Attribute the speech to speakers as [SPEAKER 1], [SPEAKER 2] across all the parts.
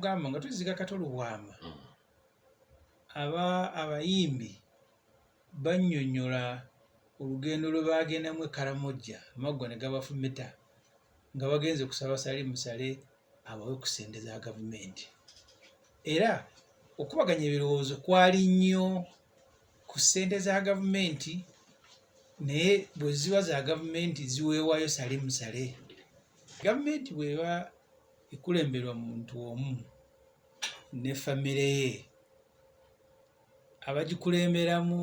[SPEAKER 1] gamba nga tuziga kato lubwama mm. aba abayimbi bannyonnyola olugendo lwe baagendamu e karamojja amaggwa ne gabafumita nga bagenze kusaba sali musale abawe ku sente za gavumenti era okubaganya ebirowoozo kwali nnyo ku sente za gavumenti naye bwe ziba za gavumenti ziweewayo sali musale gavumenti bweba ekulemberwa muntu omu ne famire ye abagikulemberamu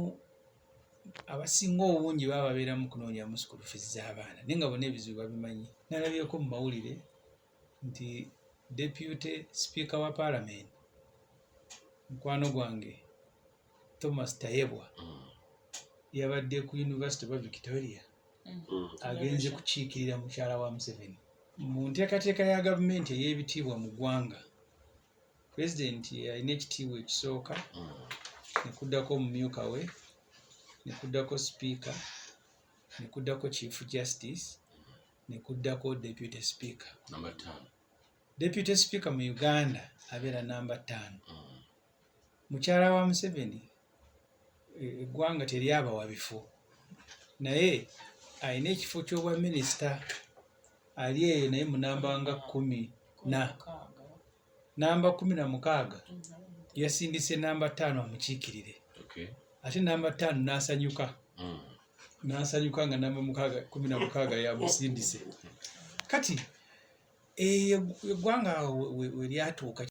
[SPEAKER 1] abasinga obungi baba babeera mu kunoonyamu sukulu fizi z'abaana naye nga bona ebizibu babimanyi nalabyeko mu mawulire nti deputy sipiika wa paalamenti mukwano gwange thomas tayebwa mm. yabadde ku university oba victoria mm. agenze kukiikirira mukyala wa museveni mu nteekateeka ya gavumenti ey'ebitiibwa mu ggwanga pulezidenti alina ekitiibwa ekisooka mm. nekuddako omumyuka we nekuddako sipiika nekuddako chief justice nekuddako deputy speaker
[SPEAKER 2] deputy
[SPEAKER 1] speaker mu uganda abeera namba ttaano mm. mukyala wa museveni eggwanga teryabawa bifo naye alina ekifo ky'obwa minisita ali eyo naye munamba nga kumi na namba kumi na mukaaga yasindise namba ttaano amukiikirire ate
[SPEAKER 2] namba ttaano
[SPEAKER 1] n'asanyuka hmm. n'asanyuka nga namba mukaaga kumi na mukaaga yamusindise kati eyo eggwanga we lyatuuka